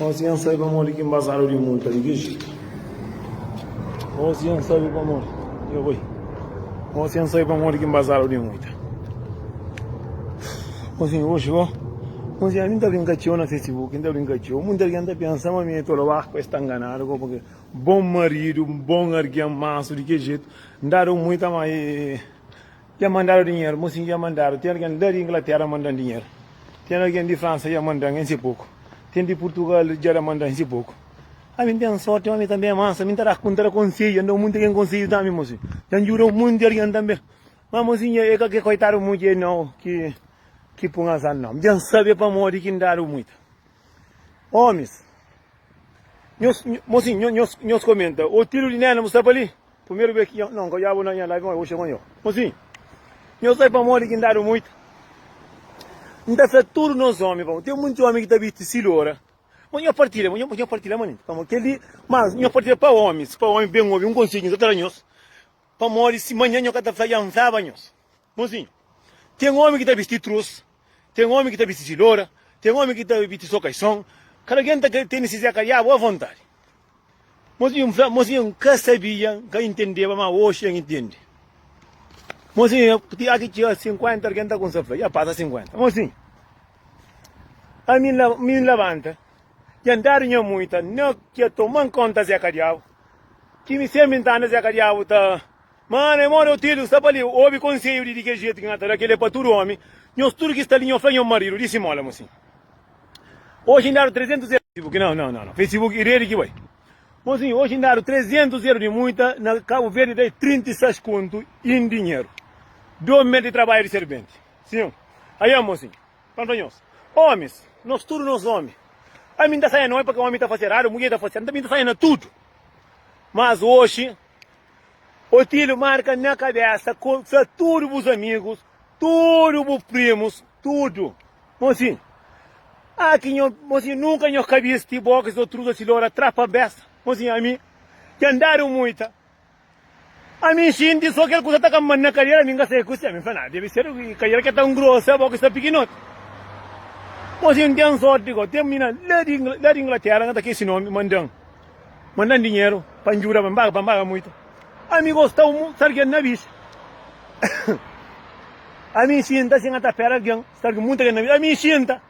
Osi N sabe pamodi ki N bazadu di munta di ki jetu Osi N sabe pamodi Yo oi Osi N sabe pamodi ki N bazadu di muita Osi Oxi oh Osi ami N ta brinka txeu na Facebook N ta brinka txeu Munti algen ta pensa ma mi é tolo Bah ku es ta nganadu ku purki Bon maridu bon argen masu di ki jetu N dadu muita ma e Dja mandadu dinheru, mo sim dja mandadu, tem alguém lá de Inglaterra mandan dinheru, tem alguém de França dja mandan em si pouco, tem de Portugal dja da mandan em si pouco, ami não tem sorte, ami também é mansa, ami não tem conselho, não dá muito alguém conselho também mo sim, dja ajuda um monte de alguém também, mas mo sim é qualquer coitado mo dje não que que põe azar não, dja sabe pa modi que dado muito, homens, nhos, mo sim nhos nhos comenta, o tiro de nena mo sta pa li. Primeru bes ki N odjaba na nha live, ma oxi konxo. Mosi, nho sai pamodi ki N dadu muitu. N ta sa tudu nos omi pamodi ten munti omi ki ta bisti si lora. Ma nho partilha, ma nho partilha manenti pamodi kel li, ma nho partilha pa omis, pa omi ben obi un konsedju ki N ta ta da nhos, pamodi si manha nho ka ta fla, N fla ba nhos. Mosi, ten omi ki ta bisti trus, Ten omi ki ta bisti di lora, ten omi ki ta bisti so kaison. Kada algen ta tene se zeka ya boa vontadi. Mozinho N fla, mozinho N ka sabia, N ka intendeba, ma oxi N intende. Mozinho ti ya ki txiga 50, algen ta kumsa fla, ya pasa 50. Mozinho ami N la, mi N labanta, ya N dadu nha muita, N na kia toma N konta zeka diabu, ki mi senpri N ta anda zeka diabu ta. Mana e mona Otilu sta pa li obi konseju di di kel jetu ki N ka ta da kel é pa tudu omi, nhos tudu ki sta li nho fla nho maridu di simola mo sin oji N dadu 300 eru di muita na Kabu Verdi da e 36 kontu i indi nhinha mo sin oji N dadu 300 eru di muita na Kabu Verdi da e 36 kontu i indi nhinha mo sin 2 mes di trabadju di serbenti sin aia mo sin pa N fla nhos omis nhos tudu nhos omi ami N ta saia na omi paka omi ta fasi eradu mudjer ta fasi eradu N ta bin ta saia na tudu mas oji Otíliu, marka na kabésa, konta tudu bus amigus, tudu bu primus, tudu. Monsinhu, Ah, ki nho, monsinhu, nunka nho ka bisti bo kes otruza si lora tra pa besta. Monsinhu, ami ten dadu muita. Ami xinti so kel kusa ta kanba-m na kadera, ami n'ka sai ku se. Ami fla, Nah, debi ser kadera ke ta n'grosa bo ki sta pikinoti. Monsinhu, n'ten sorti gó, ten mina la di, la di Inglatera, n'ka ta kesi nomi, manda-m. Manda-m dinheru pa N djuda-m, N paga pa N paga muita Ami gosta umu sargenti na bis Ami N xinta si N ka ta pera algen sargi muita genti na bis Ami N xinta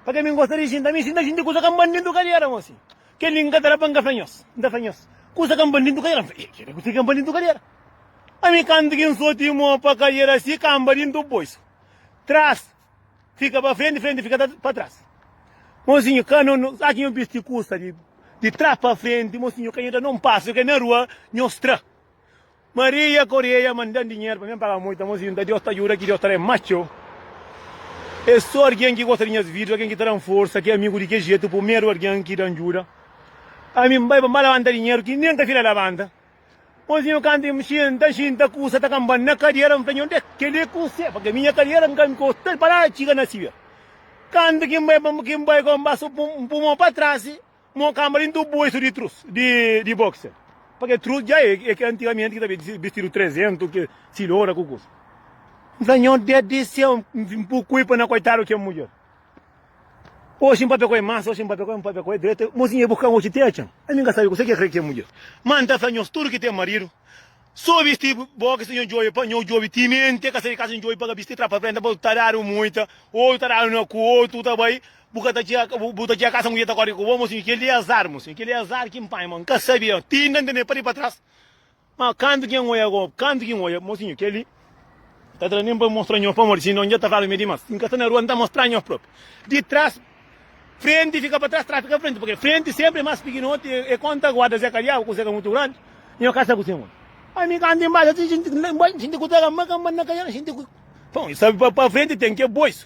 pa ke mi N gosta di xinta Ami N xinta xinti kusa ka N ban dentu kadiera Gosi kel-li N ka ta da pa N ka fla nhos N ta fla nhos kusa ka N ban dentu kadiera N fla Ih, kel-li kusa ka N ban dentu kadiera Ami kantu ki N soti mo pa kadiera si kanba dentu boisu tras Fika pa frenti, frenti fika pa tras. Mosinhu, ka no, no, sa ki nho bisti kusa di, di tras pa frenti, mosinhu, ka nho da-n un pasu, ke na rua nho stra. Maria Koreia manda-n dinheru pa mi, N paga multa, mosinhu, nta Deus ta djuda ki Deus ta da e ma txeu. E so argen ki gosta di nhas vidju, argen ki ta da-n forsa, ki e amigu di ke jetu, pumeru argen ki da-n djuda. Ami N bai pa N ba labanta dinheru ki nen ka fila labanta. Mauzinho kantu N mxia, N ta xinta kusa ta kanba-m na kadiera, N fla, Nhonde kel-li é kuse? Pabia minha kadiera N ka nkosta-l pa nada txiga na Síbia. Kantu ki N bai pa ki N bai kó N pasa un pumon pa trasi, mon kanba di un tubu oisu di trus di di boxer. Pa kel trus dja é é ki antigamenti ki ta ben di bistidu 300 ki silora ku kusa. N fla, Nhonde di séu, N pui kulpa na koitadu kel mudjer. Oxi N papia ku el mas oxi N papia ku el N papia ku el dretu Mozinha e bu kan oxi ti e txan Ami N ka sabe kuzê ki e krê ki e mudjer Ma N ta fla nhos tudu ki ten maridu So bisti bo ki sta nho djobe pa nho djobe Timenti e ka sai di kasa nho djobe pa ka bisti tra pa frenta pa bu ta dadu muita Odu ta dadu na ku odu tu ta bai bu ka ta txia bu ta txia kasa mudjer ta kori ku bo Mozinho kel li e azar mozinho kel li e azar ki N panha ma N ka sabia ti N ka ntende pa di pa tras. Má kantu ki N odja Rob, kantu ki N odja mosinhu, kel-li ka tra nen pa mostra nho pamodi si no N dja ta fla-l ma é dimás. Si N ka sta na rua, N ta mostra nho própi. Di tras, frenti fika pa tras, tras fika pa frenti, purkê frenti sénpri é más pikinoti. É kónta ku Adda Zeka diaba, kuzê ka mutu grandi, nho ka sta ku se modi. Ami kantu N pasa si jinti, N xinti ku ta kanba, kanba N na ka ja, N xinti ku. Bon, i sabe pa frenti ten ke boisu.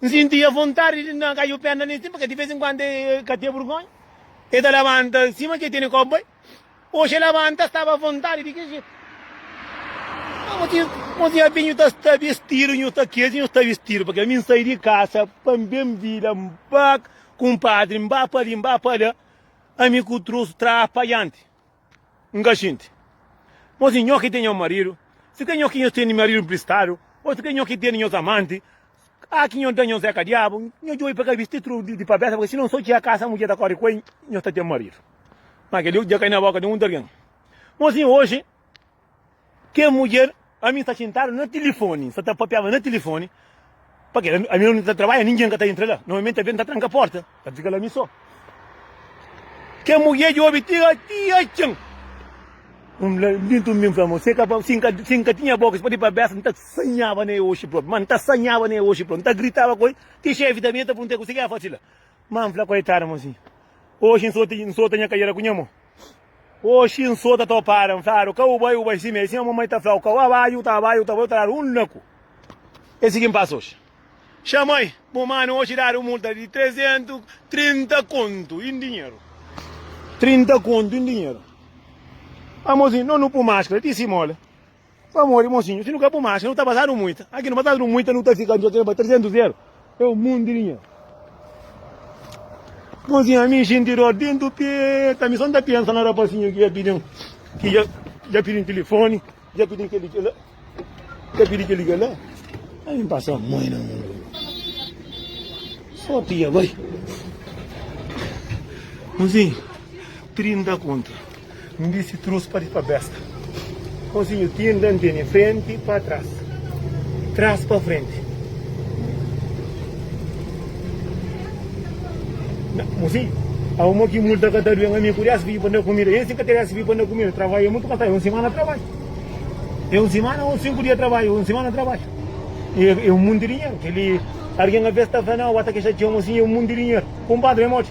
N sintia vontadi di N da-l kaiu perna li sin, purkê di vez en kuandu e ka ten burgonha. E ta labanta sima ki e tene k'o bai. Oxi e labanta staba vontadi di ki jetu. Amo ti, amo ti, abia nhu ta sta bistidu, nhu sta kezi, nhu sta bistidu, purkê mi N sai di kasa pa N ben vida, N ba kunpadri, N ba pa li, N ba pa la, ami ku trosu tra pa dianti. N ka xinti. Má si nho ki ten nho maridu, si ka nho ki nho tene maridu npristadu, ô si ka nho ki tene nhos amanti, a ki nho da nhos é ka diabu? Nho djobe pa kabisa ti tudu di pabésa, purkê si non so txia kasa mudjer ta kóre ku el, nho ta ten maridu. Má kel-li dja kai na bóka di un di algen. Mô si oji. Kel mudjer, ami sta xintadu na tilifoni, sta ta papiaba na tilifoni, pa kila ami na un ta trabadja ningen ka ta intra la, normalmenti abétu ta tranka porta, ta fika la ami so. Kel mudjer djobe ti ka ti atxa-m, un lambitu mi fla mo, si ka pa si n ka si n ka tinha boka si pode pa besa n ta sanhaba na el oxi propi, ma n ta sanhaba na el oxi propi, n ta gritaba ku el ti xefi ta bini ta pergunta-m, kuse ki el fasi la? Ma n fla koitadu mo si, oxi n solta n solta nha kadera ku nha mo. Oxi, N so ta topara, N fladu, ka u bai, u bai sime, sima mamai ta flau, ka u abai, u ta abai, u ta bai, u ta dadu un naku. É si ki N pasa oxi. Xa mai, bu manu oxi dadu multa di trezentu, trinta kontu in dinheru. Trinta kontu in dinheru. Amozinhu, no nu pu maskra ti si mola. Pamodi mosinhu, si nu ka bu marxa, nu ta bazadu muita. Aki nu bazadu muita, nu ta fika nu ta tenba 300 euro. É un mundu di dinheru. Mosinhu, ami xinti dor dentu peta, ami son ta pensa na rapasinhu ki dja pidin, ki dja, dja pidin tilifoni, dja pidin keli ki la, dja pidin keli ki la. Ami pasa mui na mundu. Sorti dja bai. Mosinhu, 30 kontu. N disi trus pa di pa besta. Konsinhu tin da ntende frenti pa tras, tras pa frenti. Na, mo si, au mo ki multa ka ta duen ami ku des bibi pa na kumida. Ênsi ka ta des bibi pa na kumida. Travaia mutu ka ta, é un simana travai. É un simana ou sinku dia travai, ou un simana travai. E, é un munti dinheru. Keli, argen a bes ta fla, nau, ata ke xatia-u mo si, é un munti dinheru. Kunpadri, é moti.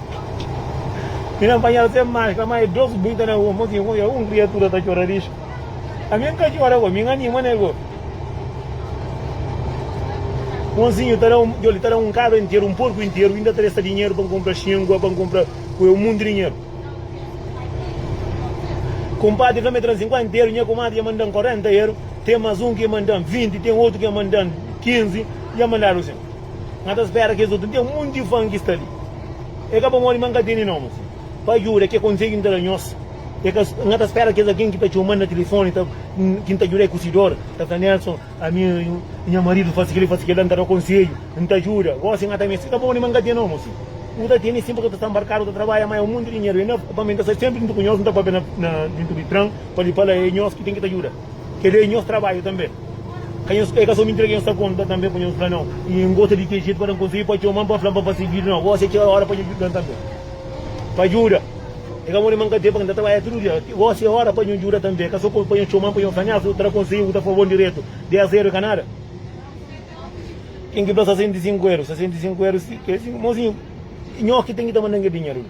Mi na panhal sem maskra ma e dox buinta na rua mos inkontra un kriatura ta txora rixu a mi nka txora go mi nganima ne go Monsinhu ta da un joli ta da un kabra interu un porku interu inda ta desta dinheru pa nkonpra xingua pa nkonpra kue un mundu dinheru Kumpadri ka me tran sinkuenta eru nha kumadri dja mandan korenta eru ten mas un ki dja mandan vinti ten otu ki dja mandan kinzi dja mandadu sin. N ka ta spera kes otu. N ten monti fan ki sta li. E ka pa modi ma N ka tene nomi. Pa djuda, ke konsedju N ta da nhos? E ka, N ka ta spera kes algen ki ta txoma-m na tilifoni ta, ki N ta djuda e ku si dor, ta fla, Nelson, ami i nha maridu fasi kel-li, fasi kel-la. N ta da konsedju, N ta djuda. Gósi N ka ta meste. E ka pa modi ma N ka ten nomi. N ta tene sin, purtu N ta sta nbarkadu, N ta trabadja mai, un monti dinheru. E na, pamê, N ta sta senpri dintu ku nhos. N ta pâpia na, na dintu di tran pa li fala, E nhos ki ten ki ta djuda. Kel-li é nhos trabadju tanbê. Ka nhos, é ka sô mintira ki nhos ta konta tanbê pa nhos, fla, Nau, i N gosta di ten jetu pa da-m konselhu i pa txoma-m pa fla-m pa fase bida. Nau, gósi é txeu óra pa nhu djuda-l tanbê. Pa djuda, é ka modi ma N ka ten, paku N ta trabadja tudu dia. Gósi é óra pa nhu djuda tanbê, é ka sô pa nhu txoma-m pa nhu fla, Nélson, bu ta da konselhu, bu ta fla bon diretu. Dés réru é ka nada. Ken ki fla sasenta i sinku réru, sasenta i sinku réru, si, kel-li, si, mozinhu, nhos ki ten ki ta manda-m kel dinheru li.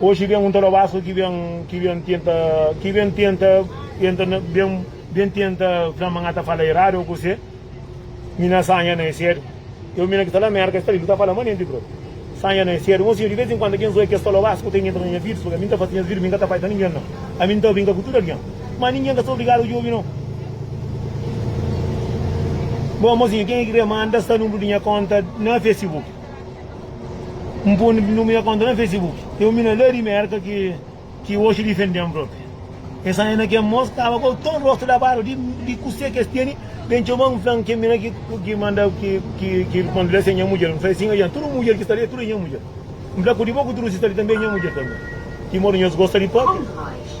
Oxi ben un ta lobaska ki ben ki ben tenta ki ben tenta entra na ben ben tenta fla ma nga ta fala eradu o kuse mi na sanja na e sedu eu mi na ki ta la merka esta libi ta fala ma nenti bro sanja na e sedu un sinhor di vez in kuando kenso e ki esta lobaska ku ta entra na nha vidas pabia mi nta fasi nhas vidas mi nka ta pai pa ningen nau ami nta brinka ku tudu algen ma ningen ka sta obrigadu ku djobi nau bo mozinha ken e ki kre manda sta nunbru di nha konta na fesibuki. N pô nu mira konta na Facebook. Ten un mina la di Mérka ki oxa difende-m própi. Es anda na kel mos kaba ku tudu rostu labadu di kuse ki es tene. Ben txoma-m fla-m kel mina ki manda ki konta la se nha mudjer. N fla es sin, Oja, tudu mudjer ki sta li tudu é nha mudjer. N fla ku di bo ku tudu si sta li tanbe é nha mudjer tanbe. Di modu nhos gosta di pâpia.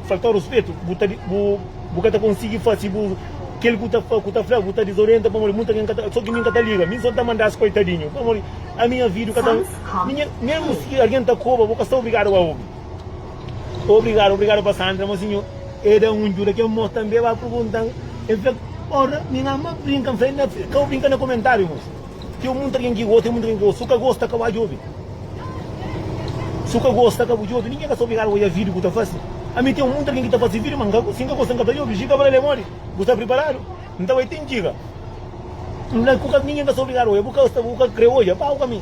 Falta-u ruspetu, bu ka ta konsigi fase bu. Kel ku ta fla bu ta dizorienta pamodi muita ken ka ta. So ki mi ka ta liga, mi so ta manda-s koitadinhu pamodi ami avidu ka ta. Mesmu si algen ta koba, bu ka sta obrigadu a obi. Obrigadu, obrigadu pa Sandra, ma sinhor e da un djuda ken mos tanbe ba purgunta-m, el fla, Ora, mi ama brinka, N fla el, N ka bu brinka na komentariu mos. Ten un monti algen ki gosta, ten un monti algen ki gosta. Si bu ka gosta, ka bu atxa djobi. Si bu ka gosta, ka bu djobi. Ningen ka sta obrigadu pa odja vídiu ki bu ta fase. Ami ten un monti algen ki ta fase vídiu, ma si N ka gosta, N ka ta djobi. Jika fla el, É modi? Bu sta priparadu? Nta bai ten djika. Ningen ka sta obrigadu pa odja. Bu ka krê odja? Ba ku ami.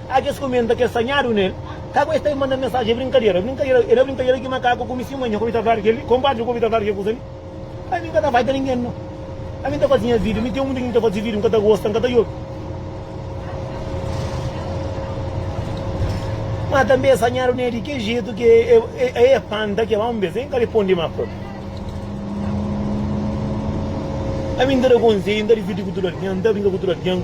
Atxa es kumenta kel sanhadu nel ka ku es ta manda mensajen brinkadera brinkadera e na brinkadera ki makaku kumi si manha kumi ta fla di kel li konpadri kumi ta fla di kel kusa li ami n ka ta faita ningen no ami n ta fazi nha video mi ten mundu ki mi ta fazi video n ka ta gosta n ka ta yobi ma tanbe sanhadu nel di kel jetu ki e panta ke ba un bes e n ka reponde ma propi ami n ta da konselhu n ta divirti ku tudu algen n ta brinka ku tudu algen.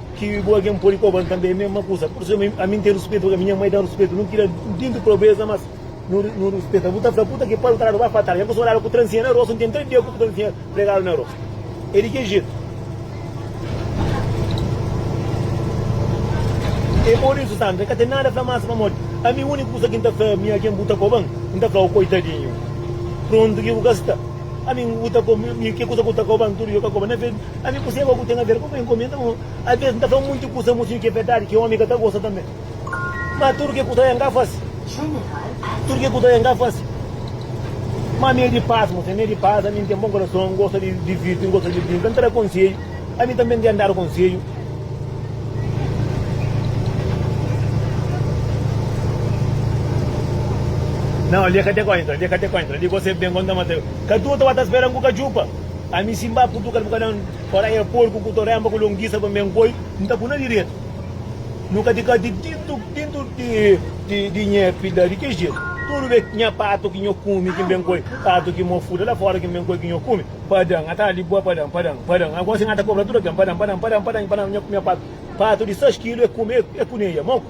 Ki bu algen pode kobra-m tanbe mésma kuza. Pur isu, ami, ami N ten ruspetu pa minha mai, da-m ruspetu. Nu tira dintu probeza, mas nu, nu ruspeta. Bu ta fla, Puta ki pal tradu ba pa tras. Nha kusa odadu ku transinha na rostu. N ten três dia ku transinha pregadu na rostu. É di ki jetu. É pur isu, Sandra, N ka ten nada fla más pamodi ami úniku kusa ki N ta fla minha algen, bu ta koba-m? N ta fla, Ô koitadinhu, prontu ki bu ka sta. Ami, N, bu ta koba-m, mi, ki kusa ku ta koba-m? Tudu ki bu ka koba-m. Na. Ami ku seba ku ten aver ku bo inkomenda bo. Abes N ta fla munti kusa mostra di ki e berdadi ki omi ka ta gosta tanbe. Ma tudu ke kusa la N ka fasi. Tudu ke kusa la N ka fasi. Ma ami e di pas mostra, ami e di pas, ami N ten bon korason, N gosta di divirti, N gosta di brinka, N ta da konsedju, ami tanbe N ten dadu konsedju. Nau, li e ka te kontra, li e ka te kontra, li gosi e ben kon ta mata yo. Ka duta ba ta spera-m ku kajupa. Ami si mba kutuka el bu ka dan ora e porku ku to renba ku longisa pa me nkoi n ta puna diretu nu ka tika di tintu tintu di nhe pida di ki jetu tudu be nha patu ki nho kumi ki n be nkoi patu ki mo fuda la fora ki n be nkoi ki nho kumi padan ata di bua padan padan padan agosi n ata kobra tudu ken padan padan padan padan nha patu patu di 6 kilu e kumi e kuneia mo.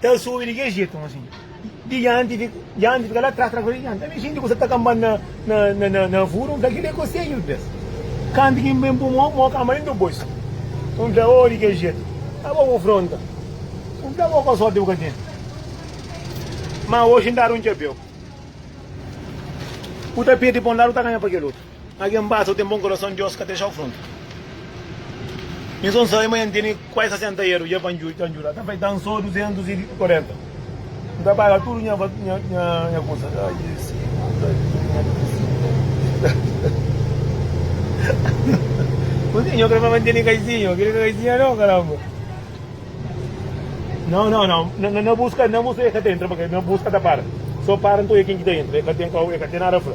Ta subi di ke jetu asin? Di dianti fika, dianti fika la tras, tras fika dianti. Ami xinti ku sa ta kanba na, na, na, na, na furu, n'fla kila é ku se yuddas. Kantu ki n'ben pui mo, mo kanba dentu bolsu. N'fla, oh, di ke jetu? Ma bo ku fronta. N'fla, bo ku sorti bu ka tene. Ma oxi n'dadu un txapeu. Bu ta pirdi pa un ladu, bu ta ganha pa kel otu. Algen basta u ten bon korason Diós ka texa-u fronta Nhos son sabe ma nha nteni kuai 60 eru dja pa ndjuda ta bai dan so 240 N ta paga tudu nha nha kusa Ai Jezu Kusi nho krê fla ma nteni kaisinho Kel-li ka kaisinha nau karanba Nau nau nau Na buska na buska e ka ta entra paka na buska ta para so para nton e ken ki ta entra e ka ten e ka ten nada fla.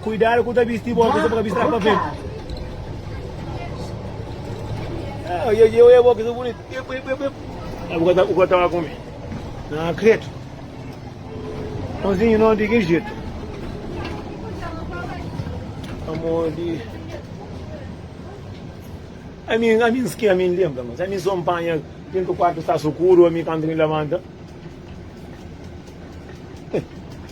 Kuidadu ku ta bisti i boka, bu ka bisti rapa fetu. Ah, e eu é bom que sou bonito. Eu, eu, eu, eu. Ah, o gato, o gato tava comigo. Não acredito. Mãozinho, não, de que jeito? Amor de... A mim, a mim, que a mim lembra, mas a mim só apanha dentro do quarto está escuro, a mim quando me levanta.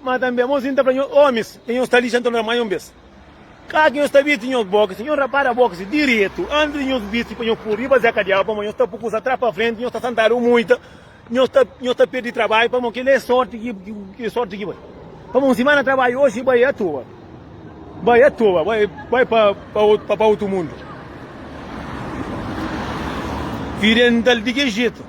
Má tanbê, mô si N ta fla nhos, Ómis, dja nhos ta lixa anton ramai un bês. Ka ki nhos ta bisti nhos bókis, nhos rapara bókis direitu antis di nhos bisti pa nhos pô-u riba zeka di agu, pamodi nhos ta pô kusa tras pa frenti, nhos ta santadu muita, nhos ta perde trabadju, pamodi kel-li é sórti ki sórti ki bai. Pamodi un simana trabadju oji bai atoa, bai atoa, bai pa otu mundu. Fidjendal di ki jetu?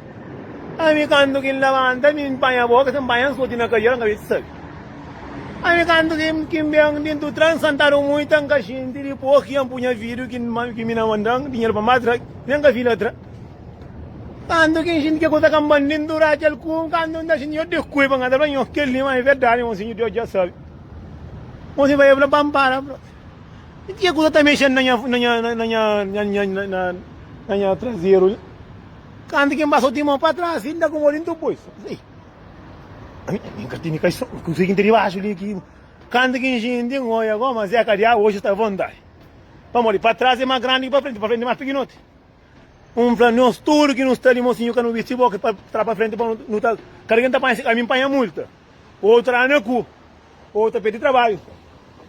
Ami kantu ki N labanta, mi N panha bo, si N panha N soti na kadiera, N ka meste sabe. Ami kantu ki N ben di Dutran, N santadu muita, N ka xinti, dipos ki N pui nha fidju ki mi na mandan dinheru pa matra, mi N ka fila tra. Kantu ki N xinti ki kusa ka N ban di ndura kel ku, kantu N ta xinti, N dikui pa ngata, N fla, Nhos, kel-li ma é verdadi, mon Sinhor Deus dja sabe. Mon Sinhor Deus fla pa N, Para, Bro. I ki kusa ta mexedu na nha trazeru li? Kantu ki N ba soti mô pa tras, si N ta konbodi N ta poi so. Ei, ami, ami N ka tene kai so, kuzê ki N ten dibaxu li ki. Kantu ki N xinti, N oia koma Zé Kadiaba oji sta avontai. Pamodi pa tras é más grandi ki pa frenti, pa frenti é más pikinoti. N fla nos tudu ki nu sta li, mosinhu ka nu bisti boka pa tra pa frenti pa nu ta. Kada ki N ta panha si kaminhu, N panha multa. Otu ranu é ku, otu tapeti di trabadju,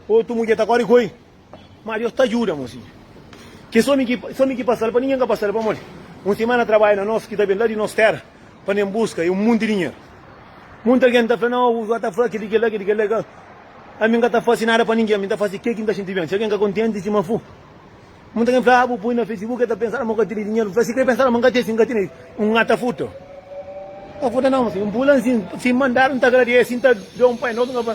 otu mudjer ta kori ku el. Má Deus ta djuda mozinha. Kes ómi ki es ómi ki pasa-l pa ningen ka pasa-l pamodi un simana trabadja na nos ki ta ben la di nos téra pa n'en buska é un monti dinheru. Monti algen ta fla, Nau, bu ka ta fla kel-li, kel-la, kel-li, kel-la, kel-la. Ami N ka ta fase nada pa ningen, ami N ta fase ke ki N ta xinti ben. Si algen ka kontenti sima fu. Monti algen fla, Ah, bu poi na Facebook, el ta pensa la ma bu ka tene dinheru. Bu fla, Si kre pensa la ma N ka tene, si N ka tene, N ka ta furta. N ka furta nau mozinha. N pui la ansin, si N mandadu, N ta agradese, si N ta da un pai nobu, N ka fla.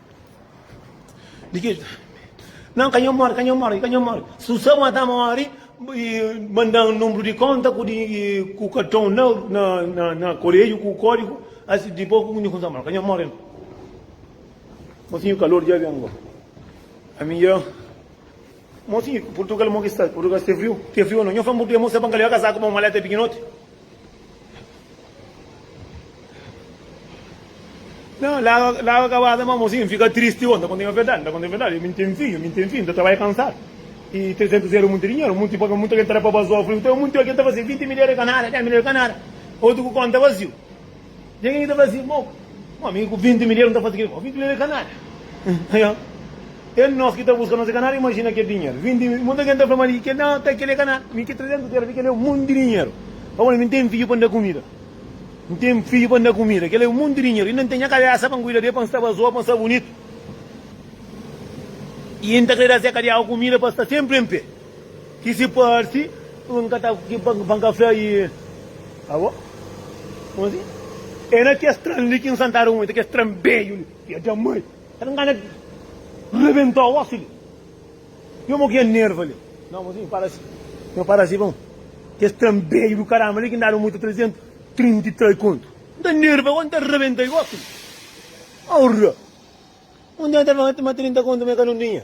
Di ki ki. Nan, ka nho mori, ka nho mori, ka nho mori. Susa ma ta mori, mandan número di konta ku di ku karton na na na, na koreiu ku kódigu, asi dipôs ku nho kumsa mori, ka nho mori nan. Mosinhu kalor dja ben bo. Ami dja. Mosinhu, Purtugal mo ki sta? Purtugal sta friu? Ke friu no? Nho fla-m bu kria mo sta pa N ka leba kasaku pa un maleta pikinoti? Nha, laga, laga kabasa ma mosinhu, N fika tristi bo, N ta konta-m nha verdadi, N ta konta-m nha verdadi, mi N ten fidju, mi N ten fidju, N ta trabadja kansadu i 300 eru é munti dinheru, munti pa munti algen ta da pa bazófriu, teo munti algen ta faze 20 mil eru é ka nada, 10 mil eru é ka nada, otu ku konta vaziu. Dja gen ki ta fla asin, Bon, un ómi ku vinti mil ieru N ta faze ke? Bon, vinti mil ieru é kanária. Nha, é nos ki ta buska nos é kanária, imajina kel dinheru. Vinti mil, monti algen ta fla-m ali, Kel-li, ka kel-li é kanária. Mi ki trezentus ieru ali, kel-li é un monti di dinheru. Pa bai, mi N ten fidju pa N da kumida. N ten fidju pa N da kumida. Kel-li é un monti di dinheru. Inda N ten nha kabésa pa N kuida di el, pa N sta bazoa, pa N sta bunitu. I N ta krê da Zé Kadiaga kumida pa el sta sénpri en pé. Ki si parsi ku N ka ta pa N ka fla i. Abo, kuma si? É na kes tran li ki N santadu muita, kes tran bedju li. Ia da mai! Sera N ka na rebenta osi li? Yo mo ki ia nerva li. Nau, kuma si? N para si. Yo para si bon. Kes tran bedju di karama li ki N dadu muita trezentu trinta i tres kontu. N ta nerva osi, N ta rebenta i osi li. Aurra! Un dia N ta fla ma trinta kontu ma e ka nu tinha.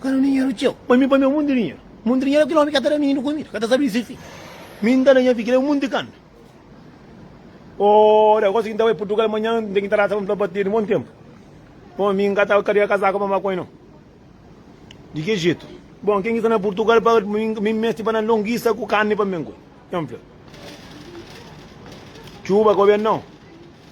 Ka nu dinheru txeu. Pa mi, pa mi é monti dinheru. Monti dinheru é kel omi ka ta da mininu kumida, ka ta sabe di se fidju. Mi N ta da nha fidju, kel é monti kanda. Ora, gosi ki N ta bai Purtugal manhan, N ten ki tarasa pa N fla pa Teni, Bon tenpu. Bon, mi N ka ta karia kasaku pa N ba ku el nau. Di ki jetu? Bon, ken ki sta na Purtugal pa mi N meste ba na longisa ku karni pa N ben ku el. El fla, Txuba ka obi el nau.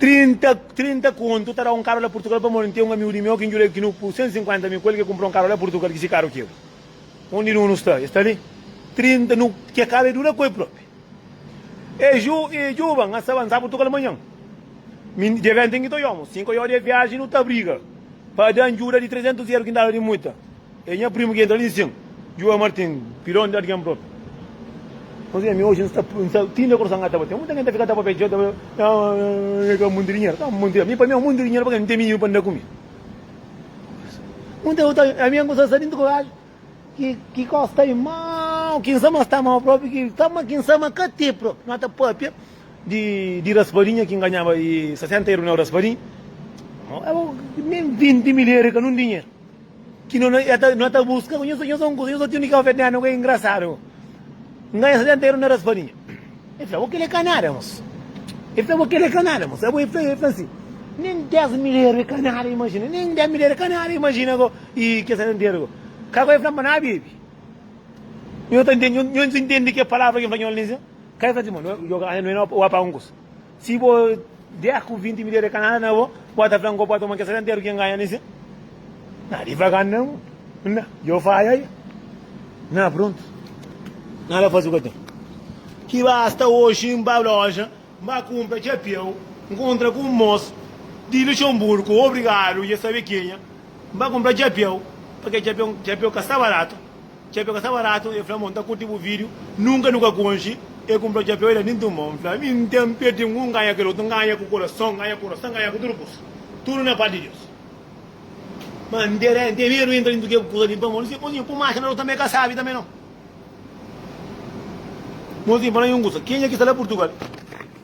30, 30 kontu ta da un karu la purtugal pamodi n ten un amigu di meu ki njulel ki nu pu 150 mil ku el ki kunpra un karu la purtugal ki si karu ki ebu undi nu nu sta e sta li 30 nu ke karu e dura ku el propi e ju e juba na sa bansa purtugal manhan mi dia venti n ki ta oiamu si n ka oiodi e viaji nu ta briga pa dan juda di 300 eru ki n daba di muita É nha primu ki entra li sin. Juva Martin, Pilon di Adgen Brot. Mas ami oji n sta tin de korson ka ta batê. Muta ken ta fika ta papia djeu ta fla ah ka monti dinheru. Ka monti dinheru. Mi pa mi é monti dinheru pake n ten mininu pa n da kume. Muta otu ami n gosta sta dintu koraju ki kosta i mau ki n sa ma sta mau propi ki sta ma ki n sa ma ka tê propi. No ta papia di raspadinha ki n ganhaba 60 eru na raspadinha. Abo nen 20 mil eru é ka nun dinheru. Ki no na eta no ta buska ku nhos nhos angus nhos otiu nika vetna no ke ingrasadu nganha sa ten teru na raspadinha e fla bo kile ka nada mos e fla bo kile ka nada mos abo e fla e fla si nen des mil eru e ka nada imajina nen des mil eru e ka nada imajina ko i ke sa ten teru ko ka ko e fla bo na bebi nhos ta ntende nhos ntende ke palavra ke fla nhos li se ka e fla si mo no yo ka no e na oa pa angus. Si bo der ku vinti midjer de kanada na bo, bo ta fla-m ku bo pode toma kes seta nteru ki N ganha nes-si? Na di faga-m na mu. N na, Yo fadja i. N na, Prontu. N na la fasi ku aten. Ki basta oji N ba loja, N ba kunpra txapiau, N kontra ku un mos di Luxenburgu, obrigadu, i es sabe kenha. N ba kunpra txapiau, pa ke txapiau ka sta baratu. Txapéu ka sta baratu, el fla-m, Bo N ta kurti bu vídiu, nunka nu ka konxe. El kunpra txapéu, el da-m tinta un bó. N fla, Mi N ta nperde un, N ganha kel otu, N ganha ku kurason, N ganha ku orason, N ganha ku tudu kuza. Tudu na párti di Deus. Má N ten N ten medu di intra dintu kel kuza li. N fla, Mon Zinho, mon Zinho, pô-m axa na Deus tanbe, ka sabe tanbe nau. Mon Zinho, fla-m un kuza, kenha ki sta la Purtugal?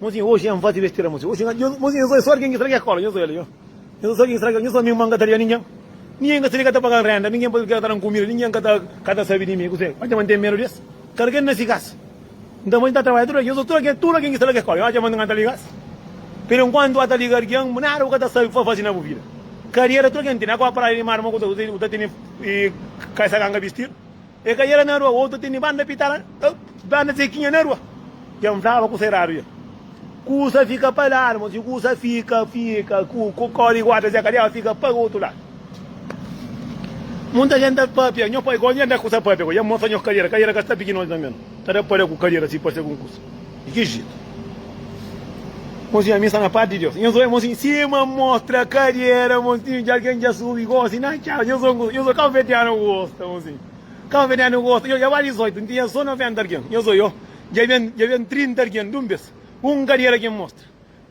Mozinha oji N faze bestera mozinha oji Mozinha N só sórt ken ki straga e kola N só el N só sórt ken ki straga N só mi N ka ta ria ningen Ningen ka sebe ka ta paga-m renda Ningen pode krê ka ta da-m kumida Ningen ka ta ka ta sabe di mi Kuzê N atxa ma N ten medu di es Kada ken na si kas N ta faze N ta trabadja tudu dia N só sórt ken tudu ken ki straga e kola N atxa ma N ka ta liga-s Pero enkuantu bu ka ta liga algen bu nada bu ka ta sabe pa faze na bu vida Kariera tudu ken tene Agoa praia di mar ma kuzê Kuzê bu ta tene e kai sa kanga bistir. E ka yera na rua oto tene banda pita la oh banda zekinha na rua kem flaba ku se rabia kusa fika pa ladu ma si kusa fika fika ku ku kori guarda zeka deba fika pa otu ladu munta gente ta papia nho pai ko nhe da kusa papia ko ya mostra nho kariera kariera ka sta pikin oji tambe ta da paria ku kariera si parse algun kusa Di ki jetu? Monsi ami sta na parti di Deus. Nhos oja monsi sima mostra kariera monsi di algen dja subi gosi na txau. Nhos oja nhos oja kabuverdianu gosta monsi. Kabuverdianu gosta nhos dja ba 18 nti nha so 90 algen. Nhos oja dja ben dja ben 30 algen dun bes. Un kariera ki nhos mostra.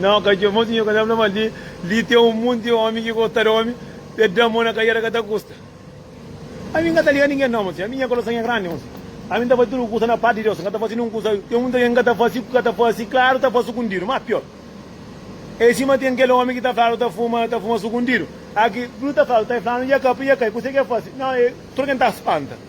Nau, ka txeu. Mon sinhor, ka ta fla mal di. Li ten un monti omi ki gosta di omi, pa e da mon na kaiada ka ta kusta. Ami N ka ta liga ningen nau, mon sinhor. Ami nha kurason nha grandi, mon sinhor. Ami N ta fasi tudu kusa na parti di Deus, N ka ta fasi nin un kusa. Ten munti algen ki ka ta fasi, ki ka ta fasi klaru, ta fasi sukundidu. Más pior é sima ten kel omi ki ta fladu ta fuma, ta fuma sukundidu. Aki, bu ta fladu, ta e fladu, i e ka, i e ka, i kuse ki e fasi? Nau, e tudu algen ta spanta.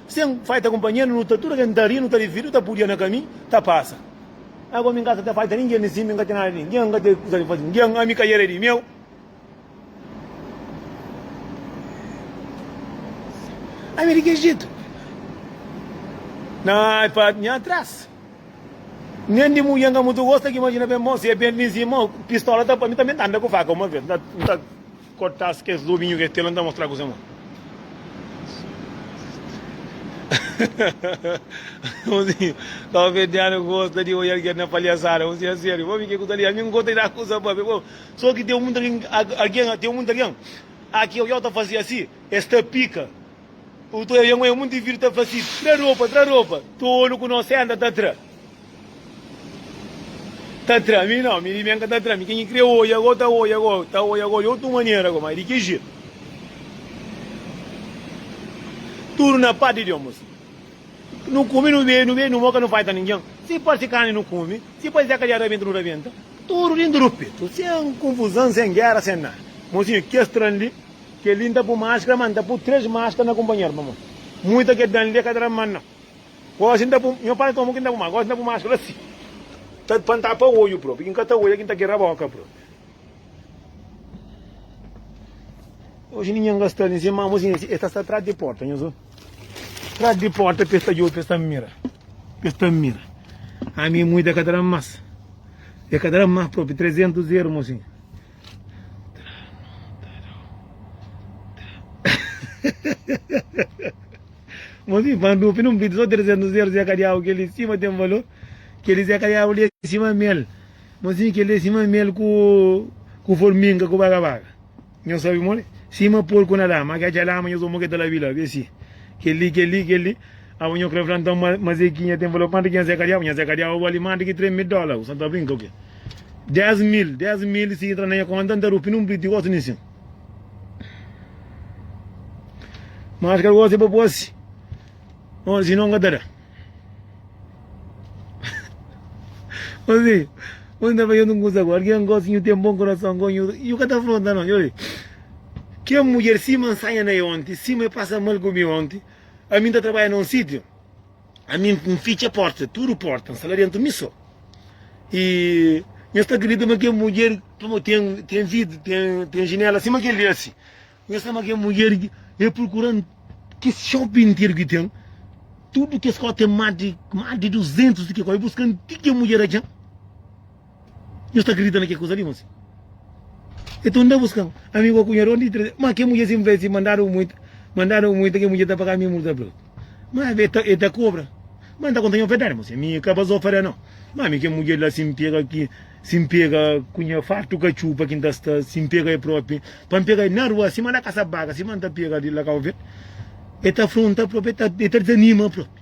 Sen faita kunpanheru nu ta tudu ken ta ri nu ta dividu nu ta pudia na kami ta pasa ago mi kasa ta faita ningen ni si mi nka ten nada di ningen nka ten kusa di fazi ningen ami ka era di meu ami di kes jetu na pa nha tras nen di mulher nka mutu gosta ki imajina ben mo si é ben mi si mo pistola ta pa mi tanbe nta anda ku faka uma vez nta. Kortas kes lobinhu ke tela nta mostra kuzé mon Unzinhu kau fedianu gosta di oial kel na paliasada Unzinhu a serio pa mi ke ku ta li ami ngosta di da kuza pa be bo so ki teu munta algen algen teu munta algen aki oial ta fasi asi es ta pika u ta oia ngue munti vidu ta fasi tra ropa tra ropa tolu ku no senta ta tra. Ta tra mi não, mi di bem ka ta tra mi Quem ki kre oia agó ta oia agó Ta oia agó di otu manera agó Mas di ki jetu Tudu na pati di omus Nu kumi nu bebi nu bebi nu moka nu faita ningen Si parsi karni nu kumi Si parsi dja kaliadu rabenta nu rabenta Tudu dintu du petu Sem kunfuzan sem gera sem nada Mosinho kes tran li Kel li n ta pu maskra ma n ta pu tres maskra na kunpanheru pamodi Muita ke dan li e ka ta da man não. Gosi n ta bu Nho pai komu ki n ta bu ma Gosi n ta bu mas Fla si ta pa n tapa odju bro Piki n ka ta odja ki n ta kera boka bro Oji ninhen ka sta li N sen mama oji ninhen Es ta sta tras di porta nhos o Tras di porta pa es ta djobe pa es ta mira Pa es ta mira Ami e muita ka ta da mas E ka ta da mas propi 300 ermo si. Mas mi fã dupi nun pidi so 300 zeru zé ka diabu kel li sima ten valor kel li zé ka diabu li é sima mel mas mi kel li é sima mel ku ku forminga ku baga baga nhos sabi modi sima porku na lama ki atxa lama nhos ôma ke ta la bila be si kel li kel li kel li aba nho kre fla nton ma ma zekinha ten valor kuantu ki nha zé ka diabu nha zé ka diabu bali mas di ki 3 mil dola u sa ta brinka u ke. 10 mil, 10 mil si entra na nha conta nta rupi num bit di otu nin sin. Mas kel gosi pa posi, oh, si non ka ta da. Ozi, ozi nta fazendo um curso agora, que é um gosto, eu tenho bom coração, eu, eu que tá afronta não, eu, que a mulher se mansanha na ontem, se me passa mal comigo ontem, a mim tá trabalhando num sítio, ami N fitxa pórta tudu pórta N sta la déntu mi sô i N sta kridita ma kel mudjer pamodi ten ten vid ten jinéla sima kel li asi N sta ma kel mudjer é prukura-m kes xopi interu ki ten tudu kes kó ten más di más di duzentus di kel kó é buska-m ti kel mudjer atxa-m. Nhos ta kridita na kel kuza li? Mon si. Enton, N ta buska amigu ô kunhadu ónde ki traduzir. Má, kel mudjer sinpli fla el sin, Mandadu muita, mandadu muita, kel mudjer ta paga mi multa brutu. Má, el ta el ta kobra. Má, N ta konta nha verdadi, mon si, ami ka ba zofada nau. Má, ami kel mudjer la, si N pega ki, si N pega ku nha fartu katxupa ki N ta sta, si N pega el própi, pa N pega el na rua, sima na kasa-baka, sima N ta pega li la Kau Verdi, el ta afronta própi, el ta el ta dizanima própi.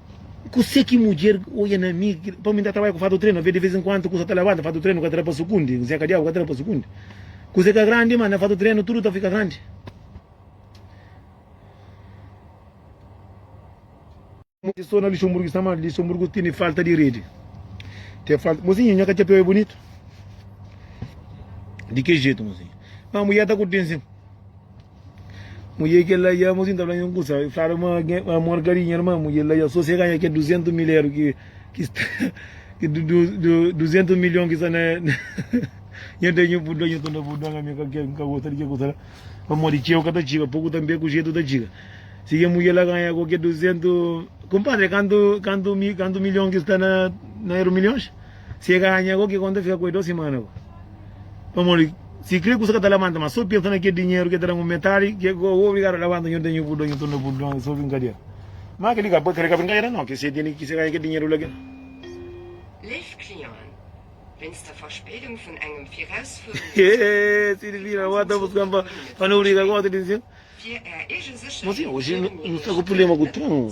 Kuse ki mudjer oia na mi, pa mi ta trabadja ku fatu trenu, ave di vez en kuantu kusa ta labanta fatu trenu ka ta da pa sukundi, kuse ka diabu ka ta da pa sukundi, kuse ka grandi ma na fatu trenu tudu ta fika grandi. Mudjer so na Luxemburgo sta mal, Luxemburgo tene falta di redi, ten falta, mozinha nha katxapiau e bunitu di ke jetu mozinha, ma mudjer ta ku tension. Mudjer kel la ia-m asin ta fla-m un kusa. El flaba ma gen amor ka dinheru, ma mudjer la ia so si el ganha kel duzentu mil eru ki ki sta ki duzentu milhon ki sta na nha da nhu purdon. Nhu ta da purdon ami ka ker, N ka gosta di kel kusa la pamodi txeu ka ta txiga, poku tanbê ku jetu ta txiga. Si kel mudjer la ganha gosi kel duzentu. Kunpadri, kantu kantu kantu milhon ki sta na na eru milhons? si e ganha go kiko nta fika ku e dos simana go pamodi si kre ku sa kata lamanta ma so pensa na kel dinheru ke ta dangu metadi ke go o obrigadu a lamanta nho tenho pudon nho torna pudon e so brinkadera ma keli ka kre ka brinkadera no ke se tene ki se ganha kel dinheru la kel. Hehehe Silvina bo ta buskan pa pa no briga gosi di nsin mo si oji no sta ku prublema ku tron.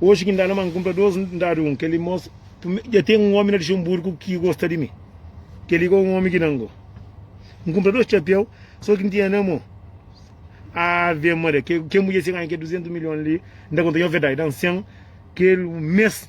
Oji ki N da na ma N kunpra dôs, N da di un. Kel-li mostra. Primeru, dja ten un ómi na Luxenburgu ki gosta di mi. Kel-li ka é un ómi ki da-m gosi. N kunpra dôs txapéu, sô ki N tinha na mô. Ave Maria! Ke mudjer sikanha ki é duzentus milhon li, N ta konta-l. Nha ovedadi da-m sen kel mês.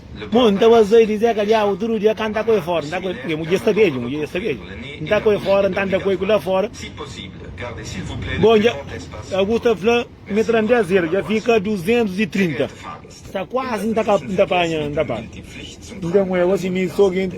Mon, N ta baza-i di Zeka Diabu tudu dia ka N ta ku-e fora. N ta ku-e, e mudjer sta bedju, mudjer dja sta bedju. N ta ku-e fora, N ta nda ku-e ku la fora. Bon, dja, alguns ta fla, mi tra-m di azedu, dja fika duzentus i trinta. Sta kuazi N ta ka, N ta panha, N ta panha. N ta ku-e gosi, mi so genti.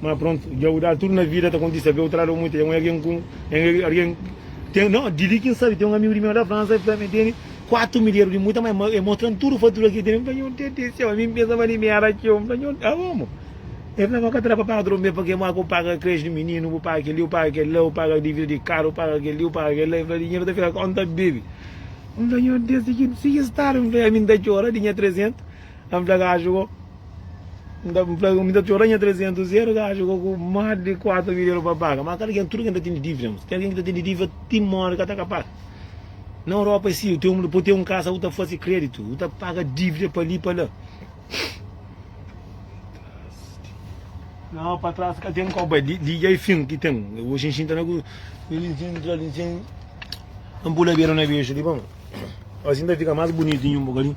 ma prontu dja uda tudu na vida ta kontise be utra lado muita dja un algen ku algen ten no di li kin sabi ten un amigu di mel na fransa e fla mi tene 4 mil euro di muita ma e mostran tudu fatura ki tene mi fla nho tete seu ami pensaba di mi era txeu mi fla nho a omo e fla ma ka ta da pa paga tudu mes pake ma ku paga creche di mininu ku paga keli ku paga kel la ku paga divida di karu ku paga keli ku paga kel la e fla dinheru ta fika konta bebe mi fla nho tete si ki stadu mi fla ami ta txora di nha 300 ami fla ka atxu ko. Nta fla mi ta txora nha 300 euro ki acha gosi ku más di 4 mil euro pa paga ma kel algen tudu ken ta tene dívida mos ten algen ki ta tene dívida ti mori ka ta ka paga na europa é si u ten pa u ten un kasa u ta fase kreditu u ta paga dívida pa li pa la na pa tras ka ten koba liga i fin ki ten bo xinxinta na ku na pula bera na bexu li pa mon asi ta fika más bunitu nha un bokadinhu.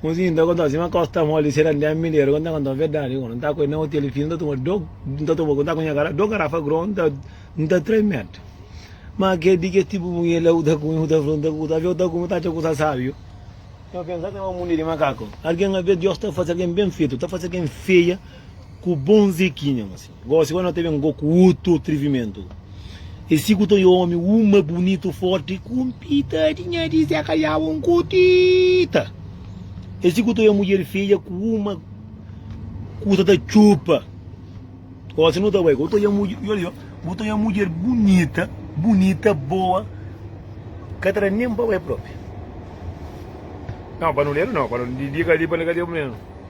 Mozinho, nta konta sima kosta mol di sera ndia mineru, konta konta verdadi ku no, nta ku e na hotel fino, nta tuma do, nta tuma ku nta ku nha kara do garafa gron, nta nta tremed, ma ke di kes tipu mungel la ku ta kume ku ta fla, nta kusa, aveu ta kume ta atxa kusa sabiu, nho pensa ata ma munde di makaku, algen aveu Dios ta fase algen ben fetu, ta fase algen feia ku bon zekinha mozinho. Gosi agora no ta ben go ku utru atrivimentu. Esi ku ta oi omi uma bunitu forti ku un pitadi nha di se kaliaba un kutita. Esi ku ta oi mudjer feia ku uma kusa ta txupa. Gosi no ta bai go ta oi mudjer, yo li yo, go ta oi mudjer bunita, bunita, boa, ka ta da nen pa bai propi. Nau pa no lelu nau, pa no di di ka di pa no ka di pa mi.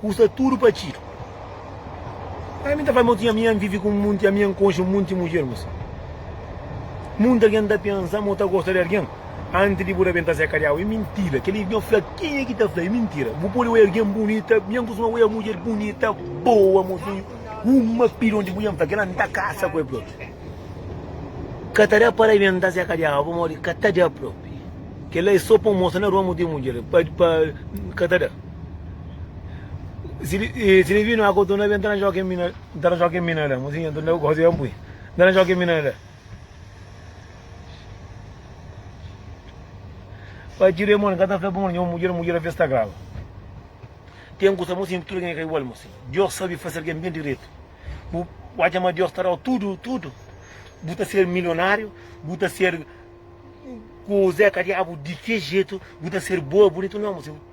Kusta tudu pa txidu. Ami n ta fla ma, Otu ami, ami vivi ku munti, ami N konxe munti mudjer, mos. Munti algen ta pensa ma bu ta gosta di algen antis di bu da ben ta sekariau. E mintira. Kel li nhos fla kenha ki ta fla? E mintira. Bu pode oi algen bunita, mi N kustuma oia mudjer bunita, boa, mosinhu, uma pidon di mulher, N fla kel la N ta kasa ku el propi. Ka ta da para ben ta sekariau pamodi ka ta da propi. Kel la e so pa N mostra na rua ma bu ten mudjer, pa, pa, ka ta da. Siribinu a kotu na be nta na joga ken mina nta na joga ken mina la muzinha nta na gosi ampui nta na joga ken mina la pa txiru e mon kata fla pa mon nho mudjer mudjer avia sta graba ten kusa musin tudu ken e ka igual musin dios sabi faser ken ben diretu bu atxa ma dios ta dau tudu tudu bu ta ser milionariu bu ta ser kuze ka diabu di ke jetu bu ta ser boa bunitu no musin.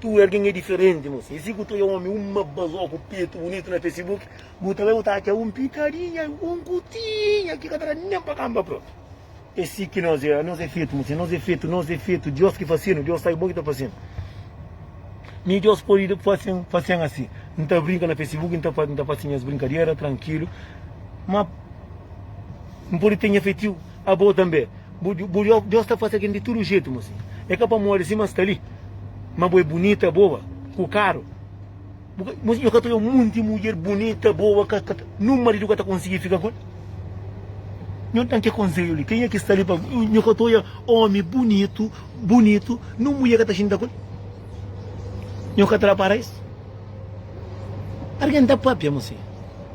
Tu ergen é diferenti moça. Esse guto é homem, uma bazoca, o peito bonito na Facebook. Guto vai botar aqui um pitadinha, um cutinha, que cadra nem para camba pronto. Esse que nós é, nós é feito, moça, nós é feito, nós é feito. Deus que fazendo, Deus sabe bom que tá fazendo. Mi Deus pode fazer, fazer assim. Não tá brinca na Facebook, não tá, não tá fazendo as brincadeiras, tranquilo. Mas não pode ter efetivo, a boa também. Bu djob Deus ta fase ken di tudu jetu mos e ka pamodi sima sta li ma bu e bunita boa ku karu bu ka mos nho ka ta oi un munti mudjer bunita boa ka ka nun maridu ka ta konsigi fika ku el nho dan ke konseju li kenha ki sta li pa mi nho ka ta oia omi bunitu bunitu nun mudjer ka ta xinta ku el nho ka ta da para es argen ta papia mos.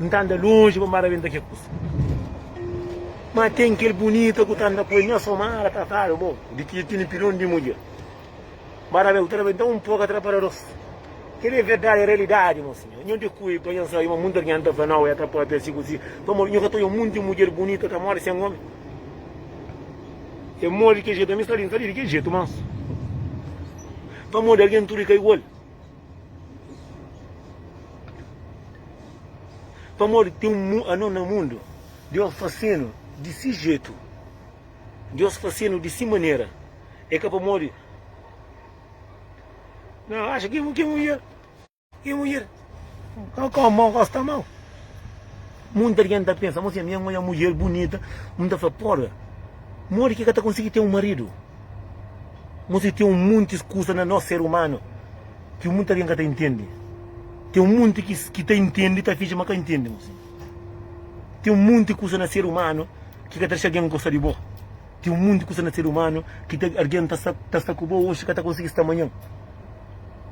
N ta anda lonji pa mara benta ke kusa Ma ten kel bunita ku ta anda ku el Nha somara ta kabe bo di ki tini pilon di mudjer Mara be ku ta da benta un poka atrapalados Kel e verdadi e realidadi mo sinhor Nho di ku e pa nho sabe ma mundu argen ta fla nau e ta papia si ku si Pamodi nho ka ta oja munti mudjer bunita ta mori sen omi E mori di kel jetu ami sta li N sta li di kel jetu mansu Pamodi argen tudu e ka igual. Pamodi ten un mu, anon na mundu, Deus fase-nu di si jetu, Deus fase-nu di si manera. É ka pamodi no atxa ki ki mudjer, ki mudjer, ka gosta mau. Munti algen ta pensa, Mo si ami anhoja mudjer bunita, N ta fla, Porga, modi ki ka ta konsigi ten un maridu? Mo si ten un muntis kusa na nos ser umanu ki munti algen ka ta intendi. Ten un munti ki ta intendi ta finji ma ka intendi. Mo si ten un munti kusa na ser umanu ki ka ta dexa algen gosta di bo. Tem um monte de coisa na ser humano que tem alguém tá sta tá sta com bo hoje ka tá conseguir sta amanhã.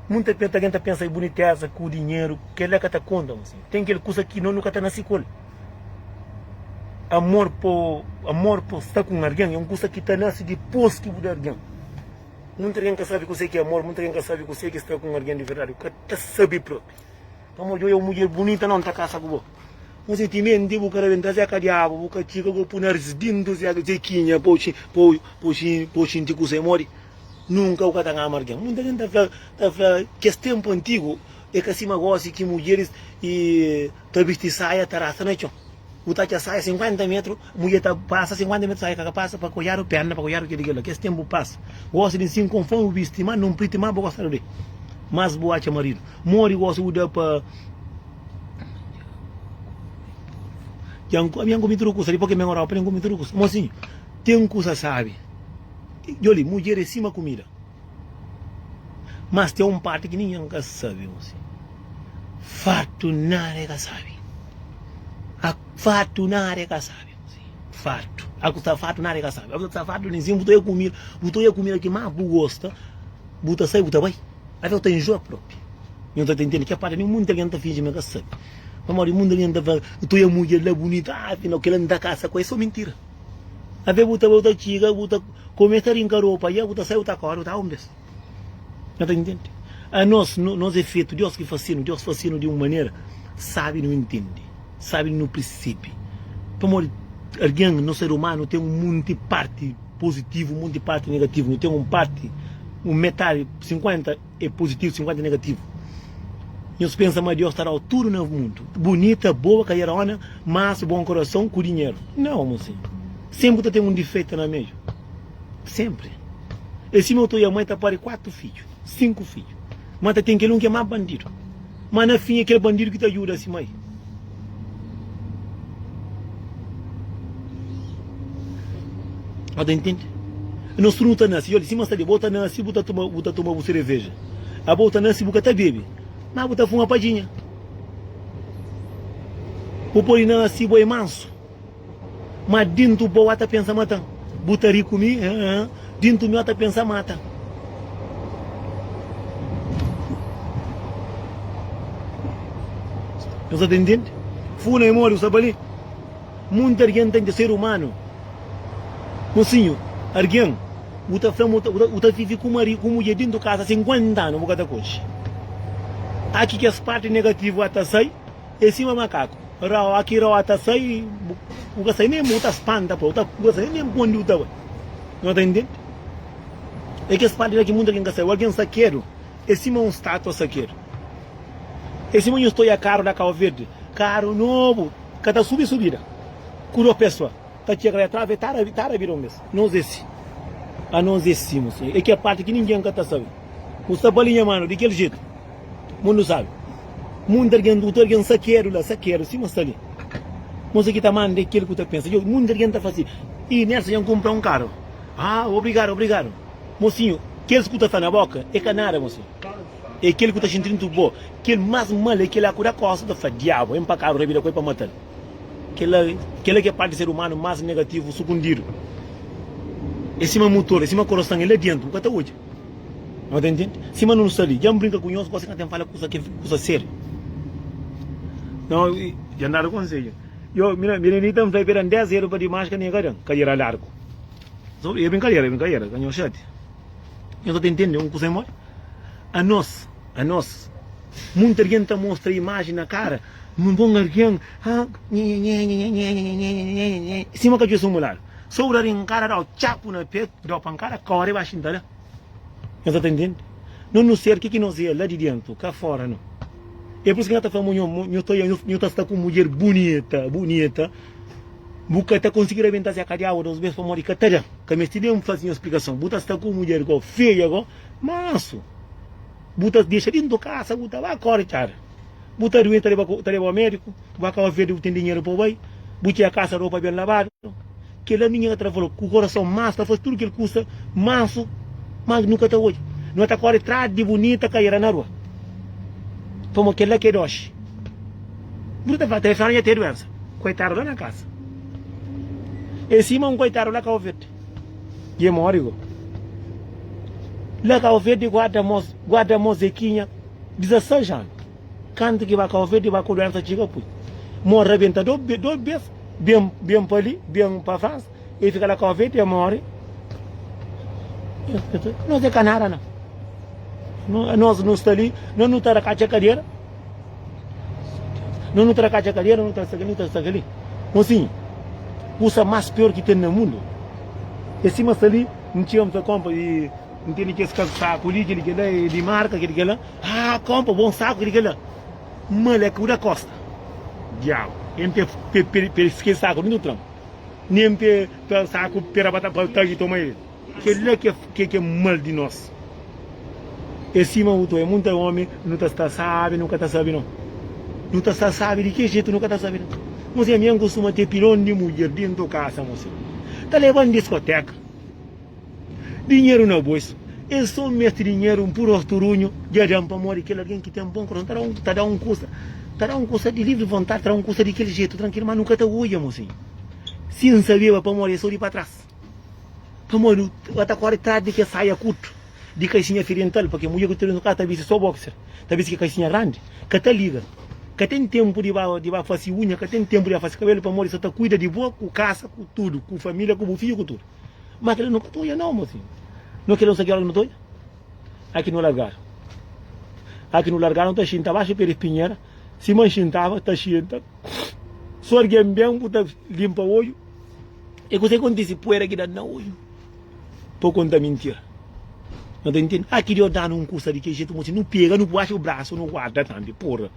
Muita pe alguém tá pensa em boniteza, com o dinheiro, que ele ka tá conta moço. Tem aquele coisa que nó nunca tá nasci com ele. Amor po amor po sta com alguém é um coisa que tá nasce depois que bu da alguém. Muita alguém ka sabe kuse ki é amor, muita alguém ka sabe kuse ki é sta com alguém de verdade, ka ta sabe próprio. Pamodi oi é um mulher bonita, nó nta casa ku bo. Nhu se timenti bu ka rabenta zeka diabu bu ka txika go pu narzi dintu zeka zekinha po xi po po xi po xinti kusa e modi nunka bu ka ta ngama argen munta gen ta fla ta fla ki es tempu antigu e ka sima gosi ki mudjeris i ta bisti saia ta rasta na txon bu ta atxa saia 50 metru Mudjer ta pasa sinkuanta mete saia ka ka pasa pa koiadu pena pa koiadu kila kila kes tenpu pasa gosi di nsin konfon bu bi stima nun priti ma bu gostadu de mas bu atxa maridu modi gosi bu da pa dja n dja n komi tudu kusa dipô ki ben europa dja n komi tudu kusa mosinhu ten kusa sabi djoli mudjer e sima kumida. Mas ten un parti ki ningen ka sabe gosi, Fartu nada e ka sabe. A fartu nada e ka sabe gosi, Fartu. A ku sta fartu nada e ka sabe. A ku sta fartu nin sin bu ta e kumida, bu ta e kumida ki mas bu gosta, bu ta sai bu ta bai. Até bu ta injoa propi. Nhos ta tentende ke parti nin munti algen ta finji ma ka sabe. Pamodi munti algen ta fala, bu ta e mudjer la bunita, afinal kila nta kasa ku el, e so mintira. Até bu ta bai bu ta txiga, bu ta. Komu e ta rinka ropa ya ku ta sai u ta kori u ta ombres. No ta intende? Anos nos e fetu Dios ki fasinu, Dios fasinu di un manera sabi nu intende, sabi di nu pirsebe. Pamodi argen, no ser umanu ten un munti parti pozitivu, un munti parti negativu, nu ten un parti, un metadi, 50. é puzitivu, 50 é negativu. Nhos pensa ma Deus ta dau tudu na mundu, bunita, boa, kadiarona, mansu, bon korason, ku dinheru? Nau, mosinhu. Senpri ku ta ten un difeita na meiu. Senpri. É si ma otu i amai ta pari kuatu fidju, sinku fidju, ma ta ten kel un ki é ma bandidu. Ma na fin é kel bandidu ki ta djuda si mai. Bo ta intende? Nos tudu nu ta nase, djodi, sima sta di, bo ta nase, bu ta toma, bu ta toma bu sereveja. Abo ta nase, bu ka ta bebe, ma bu ta fuma padjinha. Bu pode nase, bo é mansu. Ma dintu bo a ta pensa matan. Bu ta ri ku mi hee. Dintu mi a ta pensa matan. Nos a ta ntende? Funa e modi ku sta bali. Munti argen ta nja ser umanu. Mosinhu, argen bu ta fla ma bu ta vivi ku maridu, ku mudjer dintu kasa 50 anu bu ka ta konxe. Aki kes parti negativu a ta sai. É sima makaku raoa ki raoa ta sai bu ka sai nem bu ta spanta pa bu bu ka sai nem pa undi bu ta bai no ta intende é kes parti la ki muita algen ka sabe algen sakedu é sima un statua sakedu é sima nhu sta oia karu na kau verdi karu nobu ka ta subi subida ku dos pé so ta txega la tras ta ta bira un bes nos é si anos é si é ki parti ki ningen ka ta sabe bu sta bali nha manu di kel jetu Mundu sabi. Mundu argen dutu argen sakedu la, sakedu sima sta li. Kuse ki ta manda e kil ku ta pensa. Djobe, mundu argen ta fasi. Ih, Nelson djan kumpra un karu. Ah, obrigadu, obrigadu. Mosinhu, kils ku ta fla na boka e ka nada, mosinhu. E kil ku ta xinti dentu bo. Kil mas mal e kila ku da kosa ta fla, Diabu, e mpakadu rabida ku e pa matal. Kila, kila ki e parti di ser umanu mas negativu sukundidu. E sima mutor, e sima koroson e la dentu bu ka ta odja. Nota entende? Sima nun sta li, dja mbrinka ku nhos, gosi ka ten fala kusa ki kusa sériu. Nau i dja ndadu konsedju. Yo, mina, Mirinita nfla i peda ndés dedu pa dimas ka nega dan kadera largu. So, i e brinkadera, e brinkadera, ka nhos xati. Nhos ka ta intende un kusa imodi? Anos, anos, munti argen ta mostra imaji na kara, nu bon argen, ha, nhenhenhenne, Sou da rinkada dau txapu na petu dau pankada kore ba xinta da Nhos sa ta ntende no nu ser ke ki nos e la di dentu ka fora no e pur isu ki nhos ta fla mo nho mo nho ta nho ta sta ku mudjer bunita bunita bu ka ta konsigi rebenta se ka diabu dos bes pamodi ka ta da ka mesti ben fazi nho splikason bu ta sta ku mudjer go feia go mansu bu ta dexa dentu kasa bu ta ba kore txada bu ta duenta ta leba ko ta leba o mediku. Bu ka kaba vede bu ten dinheru pa bai, bu txega kasa ropa ben labadu. Kel la minha ka tra falou ku korason mas ta faz tudu kel kusa mansu mas nu ka ta odja. No ta kore tras di bunita kaira na rua pamo kel la ke doxi. Bu ta fala talves fala nha te duensa koitadu la na kasa e sima un koitadu la kaba verde dje mori go. La kaba verde guarda mo guarda mo zekinha 16 anu. Kantu ki baka ofi di baka duensa txiga pui mo rabenta dos bes, ben ben pa li, ben pa Fransa, e fika la ka ofi ti e mori. Nos e ka nada na. Nos nu sta li, nos nu ta da katxa kadera, nos nu ta da katxa kadera, nu ta sta kali, nu ta sta kali. Mo sin, kusa mas pior ki ten na mundu e sima sta li, ntxeu, nta konpa, ntende kes kasaku li, kili kila, e di marka, kili kila. Haa konpa bon saku ki di kela mal é ku da kosta diabu em pe pe kel saku dun tram nem pe ta saku pera pa ta ta ki toma el kela ke ke mal di nos é sima uto é munta omi nu ta sta sabi nu ka ta sabi no nu ta sta sabi di ke jetu nu ka ta sabi no mosem yan kustuma te pilon di mulher dento kasa mosem ta leban diskoteka. Dinheru na bos. El so mete dinheru un pur ortu runhu dja dan pamodi kel algen ki ten bon korason ta da un ta da un kusa ta da un kusa di livri vontadi ta da un kusa di kel jetu trankilu ma nu ka ta odja mosinhu si N sabeba pamodi el so di pa tras pamodi nu nu ta kore tras di kel saia kurtu di kaixinha firiental pa kel mudjer ku ta nu ka ta bisti so boxer ta bisti kel kaixinha grandi ka ta liga ka ten tenpu di ba di ba fasi unha ka ten tenpu di ba fasi kabelu pamodi so ta kuida di bo ku kasa ku tudu ku familia ku bu fidju ku tudu. Ma kila no ka ta oja nau mozinhu No kila usa ki ora ki no ta oja A ki no largadu A ki no largadu no ta xinta baxi pé di pinhera Si ma xintaba ta xinta So argen ben bu ta linpa oju E kusa ki kontisi puera ki danu na oju Pa konta mintira No ta intindi A ki dio danu un kusa di kel jetu mozinhu no pega no baxi bu brasu no guarda tambi purra.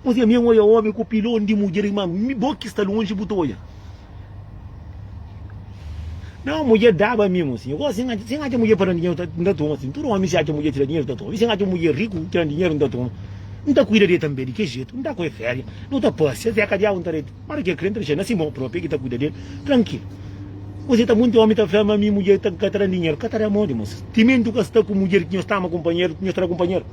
Kuzê ami un oia omi ku pilon di mudjer i manu mi bo ki sta lonji bu ta oia nau mudjer daba ami un si gosi si n atxa mudjer pa da dinheru ta n ta toma si tudu omi si atxa mudjer tira dinheru ta toma i si n atxa mudjer riku tira dinheru n ta toma n ta kuida di el tanbe di ke jetu n ta ku el feria no ta pasia até ka diabu n ta redi ma di ke kre n ta dexa na si mon propi el ki ta kuida di el trankilu kuzê ta monti omi ta fla ma mi mudjer ka ta dan dinheru ka ta da modi moças timenti bu ka sta ku mudjer ki nhos ta ama kunpanheru nhos ta da kunpanheru.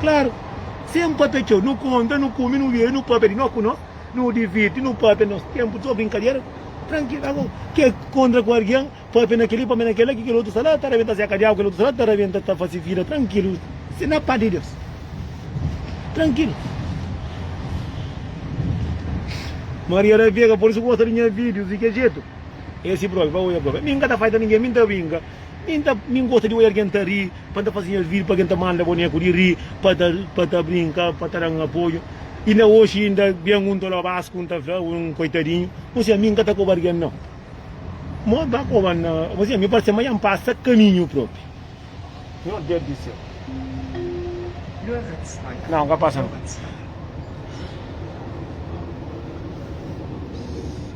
Klaru, sen inporta txeu, nu konta, nu kume, nu bebe, nu pâpia di no ku no, nu divirti, nu pâpia nos ténpu, txeu brinkadera, trankil. Ago, ke kontra ku algen, pâpia na kel-li, pâpia na kel-la, ki kel otu sta la ta rabenta seka di agu, kel otu sta la ta rabenta ta fase vida trankilu, se na pas di Deus. Trankilu. Maria da Vega, por isu gosta di nha vídius, di ke jetu? É si própi, ba odja própi. Mi N ka ta fai ta ningen, mi N ta brinka. Mi n ta mi n gosta di oja algen ta ri pa n ta faze nhas vídiu pa algen ta manda boneku di ri pa ta pa ta brinka pa ta dan apoju inda oxi inda ben un tolo bas ku n ta fla un koitadinhu un siña mi n ka ta koba algen nau mo ba koba na un siña mi parse ma ya n pasa kaminhu propi nho deus di séu nau ka pasa nau.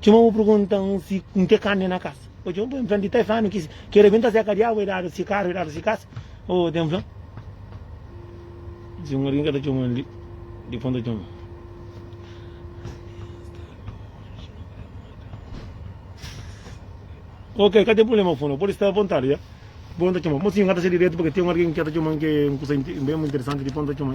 Txoma bu pergunta un si un te kande na kasa. O txoma poi mfrenti ta fanu ki ke rebenta seka diabu e dadu si karu e dadu si kasa. O tem flan. Si un algin ka ta txoma li, di pon ta txoma. Ok, ka tem problema fundo. Pode estar à vontade, ya. Pon ta txoma. Mo si un ka ta se direto porque tem un algin ki ta txoma ke un kusa bem interessante di pon ta txoma.